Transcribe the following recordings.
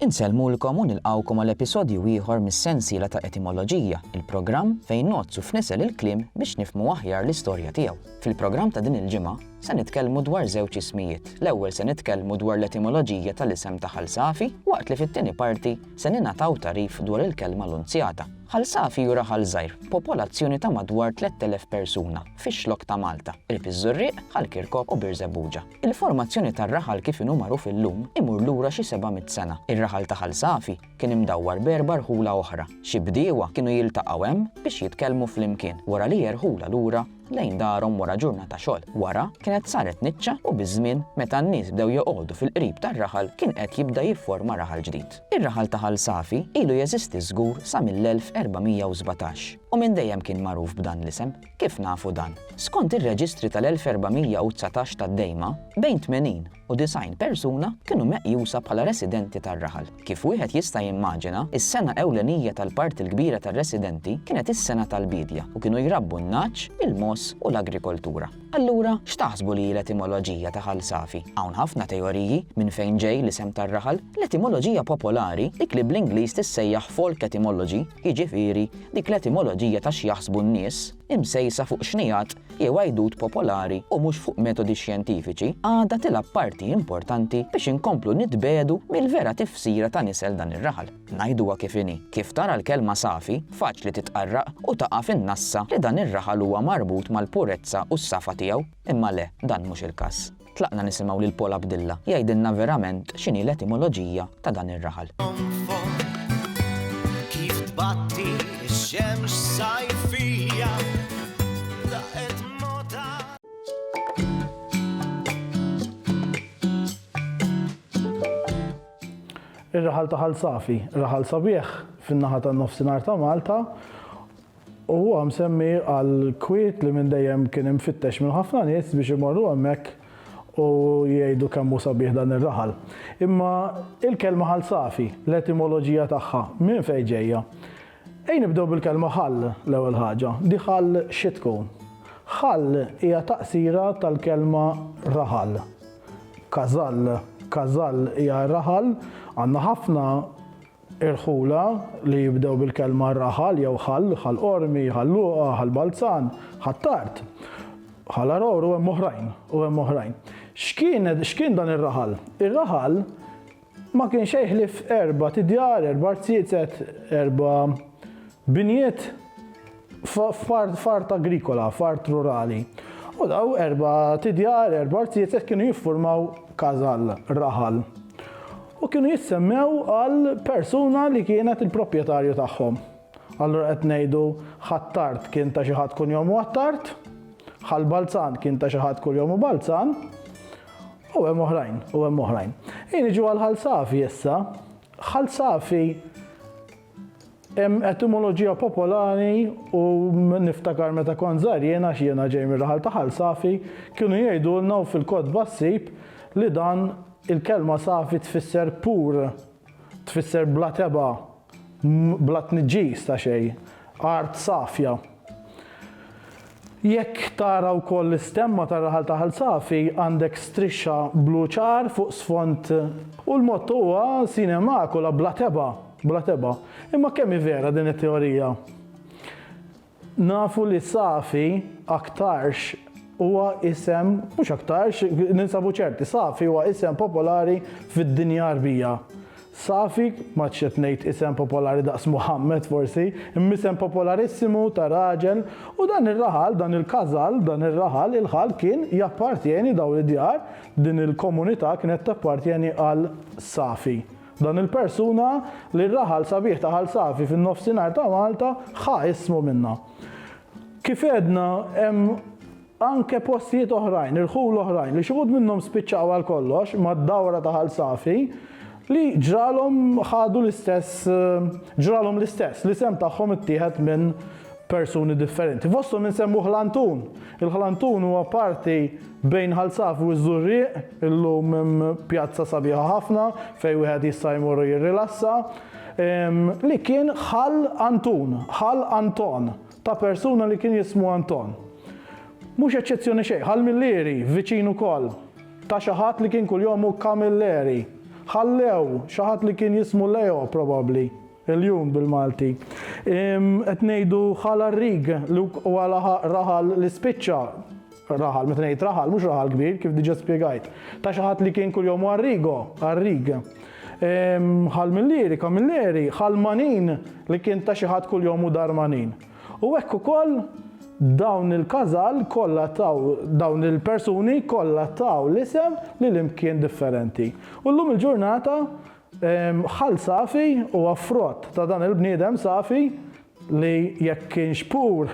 Insellmulkom u nilqgħukom għal episodju ieħor mis-sensiela ta' Etimoloġija, il-programm fejn ngħoddsu f'nisel il-kliem biex nifhmu aħjar l-istorja tiegħu. Fil-programm ta' din il-ġimgħa, se nitkellmu dwar żewġ ismijiet. L-ewwel se nitkellmu dwar l-etimoloġija tal-isem ta' Ħal Safi, waqt li fit-tieni parti se ningħataw tagħrif dwar il-kelma Lunzjata. Ħal Safi hu raħal żgħir b'popolazzjoni ta' madwar 3,000 persuna fix-Xlokk ta' Malta, qrib iż-Żurrieq, Ħal Kirkop u Birżebbuġa. Il-formazzjoni tar-raħal kif inhu magħruf illum imur lura xi seba' mitt sena. Ir-raħal ta' Ħal Safi kien imdawwar b'erba' rħula oħra. Xi bdiewa kienu jiltaqgħu hemm biex jitkellmu flimkien wara li jerħula lura lejn darhom wara ġurnata xogħol. Wara, kienet saret niċċa u biż-żmien, meta n-nies bdew joqogħdu fil-qrib tar-raħal kien qed jibda jifforma raħal ġdid. Ir-raħal ta' Ħal Safi ilu jeżisti żgur sa mill-1417 u minn dejjem kien magħruf b'dan l-isem. Kif nafu dan? Skont ir-reġistri tal-1419 tad-Dejma, bejn 80 u 90 persuna kienu meqjusa bħala residenti tar-raħal. Kif wieħed jista' jimmaġina, is-sengħa ewlenija tal-parti l-kbira tar-residenti kienet is-sengħa tal-biedja u kienu jrabbu n-nagħaġ, il-mogħoż u l-agrikoltura. Allura, x'taħsbu li hi l-etimoloġija ta' Ħal Safi? Hawn ħafna teoriji minn fejn ġej l-isem tar-raħal. L-etimoloġija popolari, dik li bl-Ingliż tissejjaħ folk etymology, jiġifieri dik l-etimoloġija ta' x'jaħsbu n-nies, imsejsa fuq xnigħat jew għajdut popolari u mhux fuq metodi xjentifiċi, għadha tilgħab parti importanti biex inkomplu nitbiegħdu mill-vera tifsira ta' nisel dan ir-raħal. Ngħiduha kif inhi, kif tara l-kelma safi, faċli titqarraq u taqa' fin-nassa li dan ir-raħal huwa marbut mal-purezza u s-safa tiegħu, imma le, dan mhux il-każ. Tlaqna nisimgħu lil Paul Abdilla jgħidilna verament x'inhi l-etimoloġija ta' dan ir-raħal. Ir-raħal ta' Ħal Safi, raħal sabiħ fin-naħa tan-Nofsinhar ta' Malta, U huwa msemmi għall-kwiet li minn dejjem kien imfittex minn ħafna nies biex imorru hemmhekk u jgħidu kemm hu sabiħ dan ir-raħal. Imma il-kelma ħal safi, l-etimoloġija tagħha, minn fejn ġejja? Ejn nibdew bil-kelma ħal l-ewwel ħaġa. Di ħal xi tkun? Ħal hija taqsira tal-kelma raħal. Kazall, kazall hija raħal, għandna ħafna Irħula li jibdew bil-kelma raħal jew ħall, Ħal Qormi, Ħal Luqa, Ħal Balzan, Ħ'Attard, Ħal Għargħur u hemm oħrajn, u hemm oħrajn. X'kienet, x'kien dan ir-raħal? Ir-raħal ma kien xejn ħlief erbat' idjar, erba' arziezet, erba' binjiet. f'art agrikola, f'art rurali. U daw erba' tidjar, erba' artijiet hekk kienu jiffurmaw każall, raħal. U kienu jissemmew għal persuna li kienet il-proprjetarju tagħhom. Allura qed ngħidu Ħattart kien ta' xi ħadd kunjomu Attart, Ħal Balzan kien ta' xi ħadd kunjomu Balzan, u hemm oħrajn, u hemm oħrajn. Ejja niġu għal Ħal Safi issa. Ħal Safi Hemm etimoloġija popolari u niftakar meta kont żgħir jien għax jiena ġej mir-raħal ta' Ħal Safi, kienu jgħidulna u fil-kotba ssib li dan il-kelma safi tfisser pur, tfisser bla tebgħa, bla tniġġis ta' xejn, art safja. Jekk tara wkoll l-istemma tar-raħal ta' Ħal Safi, għandek strixxa blu ċar fuq sfond U l-motto huwa Sine Macula, bla tebgħa, bla tebgħa. Imma kemm hi vera din it-teorija? Nafu li Safi aktarx huwa isem, mhux aktarx, ninsabu ċerti, Safi huwa isem popolari fid-dinja Għarbija. Safi, m'għadx qed ngħid isem popolari daqs Muħammad forsi, imma isem popolarissimu ta' raġel, u dan ir-raħal, dan il-casal, dan ir-raħal, il-ħal kien jappartjeni, dawn id-djar, din il-komunità kienet tappartjeni għal Safi. Dan il-persuna li r-raħal sabiħ ta' Ħal Safi fin-Nofsinhar ta' Malta ħa ismu minnha. Kif għedna, hemm Anke postijiet oħrajn, irħul oħrajn, li xi wħud minnhom spiċċaw għal kollox mad-dawra ta' Ħal Safi, li ġralhom ħadu l-istess, ġralhom l-istess, l-isem tagħhom ittieħed minn persuni differenti. Fosthom insemmu Ħlantun. Il-Ħlantun huwa parti bejn Ħal Safi u ż-Żurrieq, illum hemm pjazza sabiħa ħafna fejn wieħed jista' jmur u jirrilassa, li kien Ħal Antun, Ħal Anton. ta' persuna li kien jismu Anton. Mhux eċċezzjoni xejn, Ħal Millieri, viċin ukoll, ta' xi ħadd li kien kuljom hu Camilleri. Ħallew, xi ħadd li kien jismu Leo, probabbli, il-jum bil-Malti. Qed ngħidu Ħal Għarrig, li wkoll raħal li spiċċa. Raħal, meta ngħid raħal, mhux raħal kbir, kif diġà spjegajt, ta' xi ħadd li kien kuljom għarrigo, għarrig. Ehm, ħal Milleri, Kamilleri, ħal Manin li kien ta' xi ħadd kuljom u dar Manin. U hekk ukoll dawn il-każal kollha taw dawn il-persuni kollha taw l-isem li l-imkien differenti. U llum il-ġurnata ħal safi u affrott ta' dan il-bniedem safi li jekk kienx pur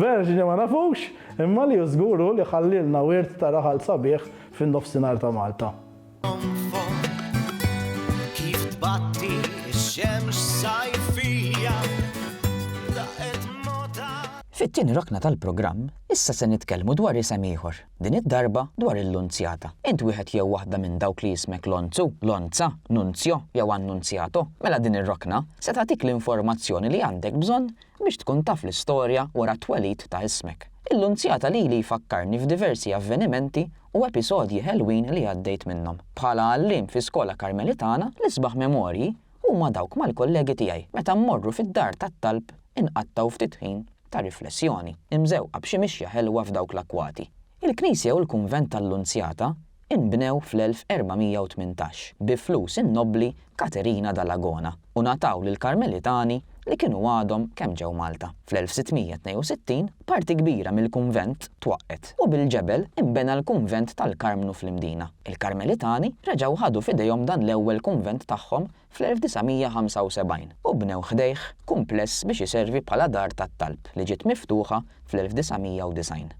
verġni ma nafux, imma li hu żgur hu li ħallielna wirt ta' raħal sabiħ fin-Nofsinhar ta' Malta. Fit-tieni rokna tal-programm, issa se nitkellmu dwar isem ieħor. Din id-darba dwar il-Lunzjata. Int wieħed jew waħda minn dawk li jismek Lonzu, Lonza, Nunzjo jew Annunzjato? Mela din ir-rokna se tagħtik l-informazzjoni li għandek bżonn biex tkun taf l-istorja wara t-twelid ta' ismek. Il-Lunzjata lili jfakkarni f'diversi avvenimenti u episodji ħelwin li għaddejt minnhom. Bħala għalliem fi skola Karmelitana, l-isbaħ memorji Huma dawk mal-kollegi tiegħi meta mmorru fid-dar tat-talb inqattgħu ftit ħin ta' riflessjoni, imżewqa b'xi mixja ħelwa f'dawk l-akkwati. Il-knisja u l-kunvent tal-Lunzjata inbnew fl-1418 bi flus in-nobbli Caterina Dall'Agona u ngħataw lill-Karmelitani li kienu għadhom kemm ġew Malta. Fl-1662 parti kbira mill-kunvent twaqqgħet u bil-ġebel inbena l-kunvent tal-Karmnu fl-Imdina. Il-Karmelitani reġgħu ħadu f'idejhom dan l-ewwel kunvent tagħhom fl-1975 u bnew ħdejh kumpless biex iservi bħala dar tat-talb li ġiet miftuħa fl-1990.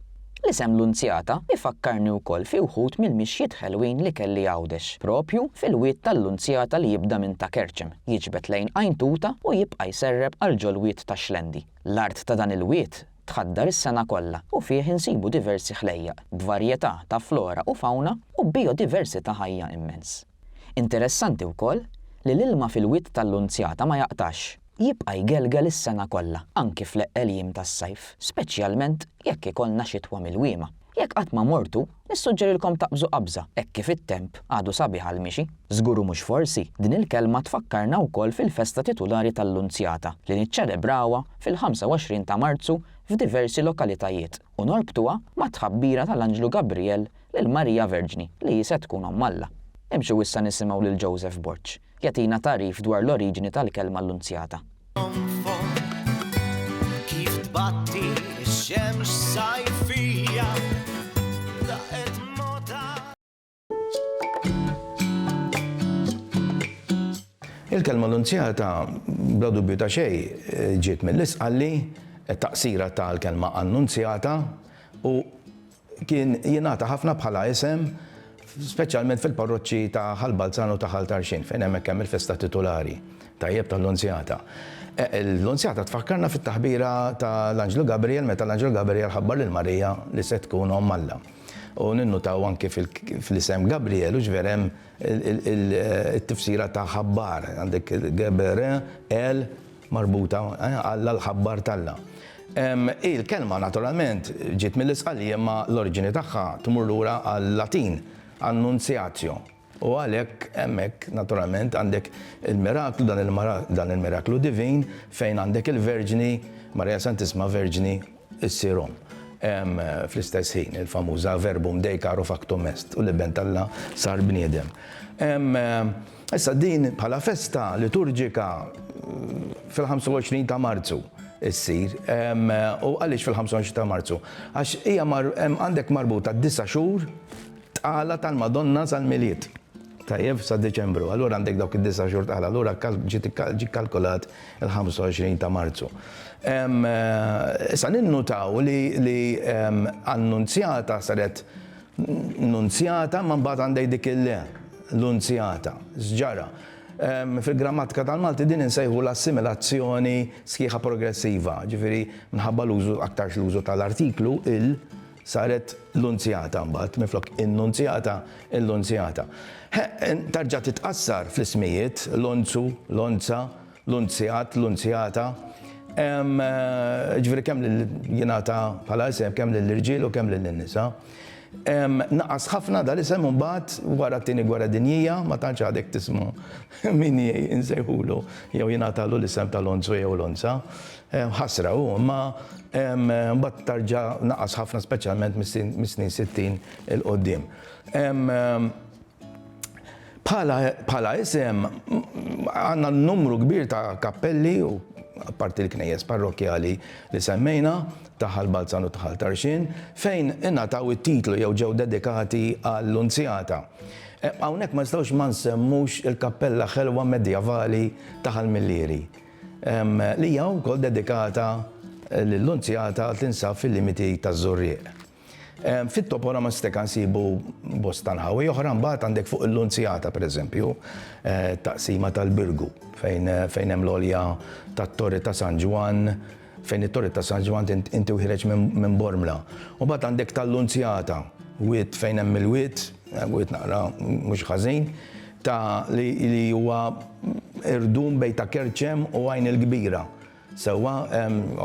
L-isem Lunzjata jfakkarni wkoll fi wħud mill-mixjiet ħelwin li kelli Għawdex, proprju fil-wied tal-Lunzjata li jibda minn Ta' Kerċem, jiġbed lejn Għajn Tuta u jibqa' jserreb għal ġol-wied ta' Xlendi. L-art ta' dan il-wied tħaddar is-sena kollha u fih insibu diversi ħlejjaq, b'varjetà ta' flora u fawna u b'bijodiversità ħajja immens. Interessanti wkoll li l-ilma fil-wied tal-Lunzjata ma jaqtax. Jibqa' jgelgel is-sena kollha, anki fl-eqqel jiem tas-sajf, speċjalment jekk ikollna xitwa milwiema. Jekk qatt ma mortu, nissuġġerilkom taqbżu qabża hekk kif it-temp għadu sabiħ għall-mixi. Żgur u mhux forsi, din il-kelma tfakkarna wkoll fil-festa titulari tal-Lunzjata li niċċelebrawha fil-25 ta' Marzu f'diversi lokalitajiet. u norbtuha mat-tħabbira tal-anġlu Gabrijel lil Marija Verġni li hi se tkun Omm Alla. Imxu issa nisimgħu lil Joseph Borg jagħtina tagħrif dwar l-oriġini tal-kelma Annunzjata. Il-kelma annunzjata bla dubju ta' xejn ġiet mill-isqalli, taqsira tal-kelma annunzjata u kien jingħata ħafna bħala isem speċjalment fil-parroċċi ta' Ħal Balzan u ta' Ħal Tarxin fejn hemmhekk hemm il-festa titulari tajjeb tal-Lunzjata. E, L-Lunzjata tfakkarna fit-taħbira tal-Anġlu Gabriel meta l-Anġlu Gabriel ħabbar lil Marija li se tkun omm Alla. U ninnutaw anki fl-isem Gabriel hux vera hemm it-tifsira ta' ħabbar, għandek Gebe-re el marbuta, Alla l-ħabbar t'Alla. Hi l-kelma naturalment ġiet mill-Isqalli imma l-oriġini tagħha tmur lura għal-Latin, annunziatio. U għalhekk hemmhekk naturalment għandek il-miraklu, dan il-miraklu divin fejn għandek il-Verġni, Maria Santissima Verġni issir omm. Fl-istess ħin, il-famuża Verbum Dei caro factum est, u l-Iben t'Alla sar bniedem. Issa din bħala festa liturġika fil-25 ta' Marzu ssir. U għaliex fil-25 ta' Marzu? Għax hija għandek marbuta d-disa' xhur, Tqala tal-Madonna sal-Milied. Tajjeb, sa Diċembru. Allura għandek dawk id-disa' xhur tqala. Allura ġie kalkolat il-25 ta' Marzu. Issa ninnutaw li annunzjata saret nunzjata ma mbagħad għandek dik il-le, l-unzjata. X'ġara? Fil-grammatika tal-Malti din insejħu l-assimilazzjoni sħiħa progressiva, ġifieri minħabba l-użu aktarx l-użu tal-artiklu il, Saret l-unzjata mbagħad, minflok in-nunzjata, il-lunzjata. Ħe, tarġa' titqassar fl-ismijiet, l-onzu, l-onza, l-unzjat, l-unzjata. Ehm, jiġifieri kemm lil jingħata bħala isem kemm lill-irġiel u kemm lin-nisa. Ehm, naqas ħafna dal-isem imbagħad wara t-Tieni Gwerra Dinjija, ma tantx għadek tisma' min insejħulu jew jingħatalu l-isem tal-onzu jew l-onza. Ħasra hu, imma mbagħad tarġa' naqas ħafna speċjalment mis-snin sittin 'il quddiem. Bħala isem għandna numru kbir ta' kappelli u apparti l-knejjes parrokkjali li semmejna ta' Ħal Balzan u ta' Ħal Tarxien fejn ingħataw it-titlu jew ġew dedikati għall-Lunzjata. Hawnhekk ma nistgħux ma nsemmux il-kappella ħelwa medjevali ta' Ħal Millieri. li hija wkoll dedikata lill-Lunzjata tinsab fil-limiti taż-Żurrieq. Fit-toponima stika nsibu bosta nħawi oħra mbagħad għandek fuq il-Lunzjata pereżempju taqsima tal-Birgu fejn hemm l-għolja tat-Torri ta' San Ġwann, Fejn it-Torri ta' San Ġwann inti wħiereġ minn Bormla. U mbagħad għandek tal-Lunzjata, wied fejn hemm il-wied, wied naqra mhux ħażin, ta' li huwa irdum bejn ta' Kerċem u Għajn il-Kbira. Sewwa,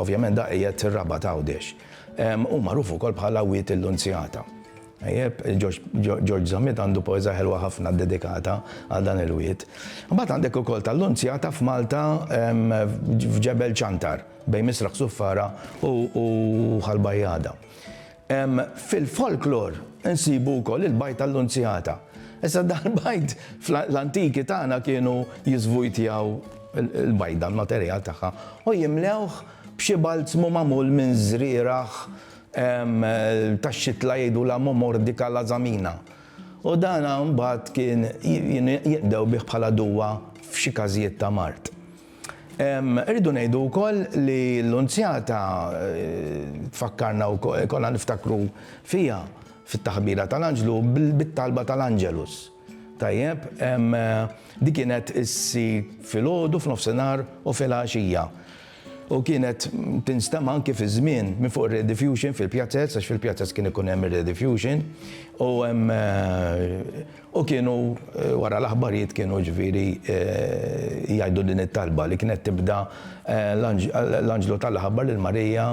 ovvjament dak qiegħed fir-Rabat Għawdex. Hu magħruf ukoll bħala Wied il-Lunzjata. Tajjeb, Ġorġ Zammit għandu poeża ħelwa ħafna ddedikata għal dan il-wied. Imbagħad għandek ukoll tal-Lunzjata f'Malta f'Ġebel Ċantar, bejn Misraħ Suffara u Ħal Bajjada. Fil-folklor insibu wkoll il-bajd tal-Lunzjata. Issa dan il-bajd fl-antiki tagħna kienu jiżvujtjaw il-bajda, l-materjal tagħha, u jimlewh b'xi balzmu magħmul minn żrieragħ tax-xitla jgħidulha Momordica lazamina, u dan mbagħad kien jiqdew bih bħala duwa f'xi każijiet ta' mard. Irridu ngħidu wkoll li l-Lunzjata tfakkarna wkoll, konna niftakru fiha fit-taħbira tal-Anġlu bit-talba tal-Angelus. Tajjeb, din kienet issir filgħodu, f'nofsinhar u filgħaxija. U kienet tinstema' anki fiż-żmien minn fuq ir-Rediffusion fil-pjazez, għax fil-pjazez kien ikun hemm ir-Rediffusion, u hemm u kienu wara l-aħbarijiet kienu ġifieri jgħidu din it-talba li kienet tibda l-anġlu ta' l-ħabbar lil Marija,